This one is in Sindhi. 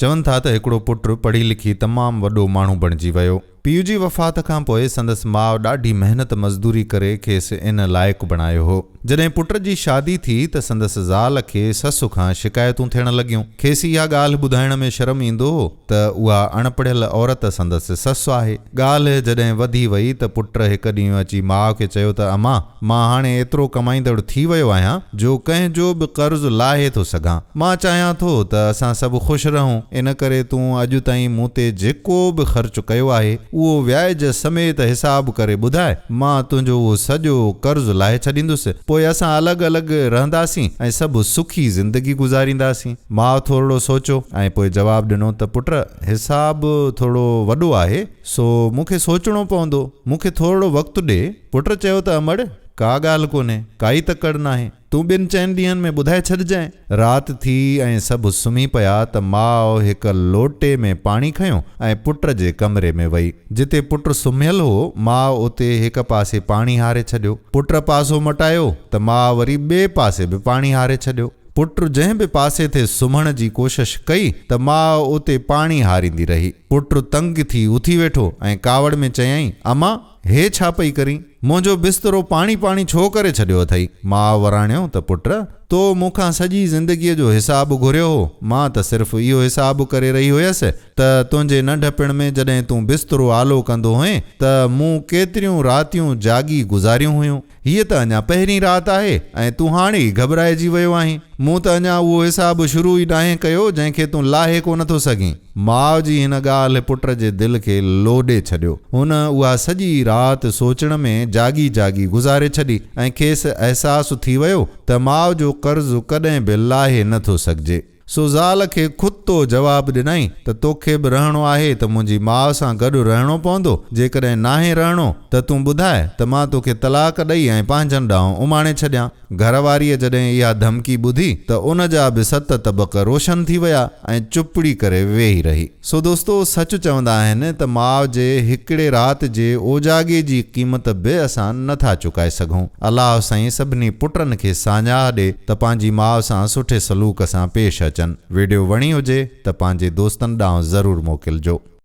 چون ٿا ته هڪڙو پٽ پڙهي لکي تمام وڏو ماڻهو بڻجي ويو. پيء جي وفات کان پوء سندس ماء ڏاڍي محنت مزدوري ڪري کيس ان لائق بڻايو هو. جڏهن پٽ جي شادي ٿي ته سندس زال کي سس کان شڪايتون ٿيڻ لڳيون. کيس اها ڳالهه ٻڌائڻ ۾ شرم ايندو هو ته اها اڻ پڙهيل عورت سندس سس آهي. ڳالهه جڏهن وڌي وئي ته پٽ هڪ ڏينهن اچي ماء کي چيو ته امان! مان هاڻي ايترو ڪمائيندڙ ٿي ويو آهيان جو ڪنهن جو به قرض لاهي ٿو سگهان. مان چاهيان ٿو ته اسان سڀ خوش رهون. ان ڪري تون اڄ تائين مون تي جيڪو به خرچ ڪيو آهي، اهو وياج سميت حساب ڪري ٻڌاء، مان تنهنجو اهو سڄو قرض لاهي ڇڏيندس. پوء اسان الڳ الڳ رهنداسين ۽ سڀ سکي زندگي گذارينداسين. ماء ٿورڙو سوچيو ۽ پوء جواب ڏنو ته پٽ، حساب ٿورڙو وڏو آهي، سو مون کي سوچڻو پوندو. مون کي ٿورڙو وقت ڏي. پٽ چيو ته امڙ! ڪا ڳالهه ڪونهي، ڪائي تڪڙ ناهي، تون ٻن چئن ڏينهن ۾ ٻڌائي ڇڏجانء. رات ٿي ۽ سڀ سمهي پيا ته ماء هڪ لوٽي ۾ پاڻي کنيو ۽ پٽ جي ڪمري ۾ وئي. جتي پٽ سمهيل هو، ماء اتي هڪ پاسي پاڻي هاري ڇڏيو. پٽ پاسو مٽايو ته ماء وري ٻئي پاسي به پاڻي هاري ڇڏيو. پٽ جنهن به پاسي تي سمهڻ جي ڪوشش ڪئي ته ماء اتي پاڻي هاريندي رهي. پٽ تنگ ٿي اٿي ويٺو ۽ ڪاوڙ ۾ چيائين، امان! هي ڇا پئي ڪرين؟ منهنجو بسترو پاڻي پاڻي ڇو ڪري ڇڏيو اٿئي؟ ماء وراڻيو ته پٽ! تو مون کان سڄي زندگيء جو حساب گهريو هو، مان ته صرف اهو حساب ڪري رهي هيس ته تنهنجي ننڍپڻ ۾ جڏهن تون بسترو آلو ڪندو هئين ته مون ڪيتريون راتيون جاڳي گذاريون هيون. هيء ته اڃا پهرين رات آهي ۽ تون هاڻي ئي گهٻرائجي ويو آهين. مون ته اڃا اهو حساب شروع ئي ناهي ڪيو، جنهن کي تون لاهي ڪو نه ٿو سگهين. ماء جي هن ڳالهه پٽ جي دل کي لوڏي ڇڏيو. هن اها سڄي رات سوچڻ ۾ جاڳي جاڳي گذاري ڇڏي ۽ کيس احساس ٿي ويو ته ماء جو قرض ڪڏهن به لاهي نه ٿو سگهجي. سو زال کي خود تو جواب ڏنائين ته توکي به رهڻو آهي ته منهنجي ماء سان گڏ رهڻو پوندو، جيڪڏهن ناهي رهڻو ته تون ٻڌاء ته مان توکي طلاق ڏئي ۽ پنهنجن ڏانهن اماڻي ڇڏيان. گهر واريء جڏهن اها ڌمڪي ٻڌي ته ان جا به ست طبق روشن ٿي ويا ۽ چپڙي ڪري ويهي رهي. سو دوستو سچ چوندا آهن ته ماء جي هڪڙي رات جي اوجاڳي جي قيمت به اسان نه ٿا چڪائي سگهون. الله سائين سڀني پٽن کي ساڃاهه ڏي ته پنهنجي ماء سان سٺي سلوڪ سان پيش اچن. ويڊيو وڻي هجي ته پنهنجي دوستن ڏانهن ضرور موڪلجو.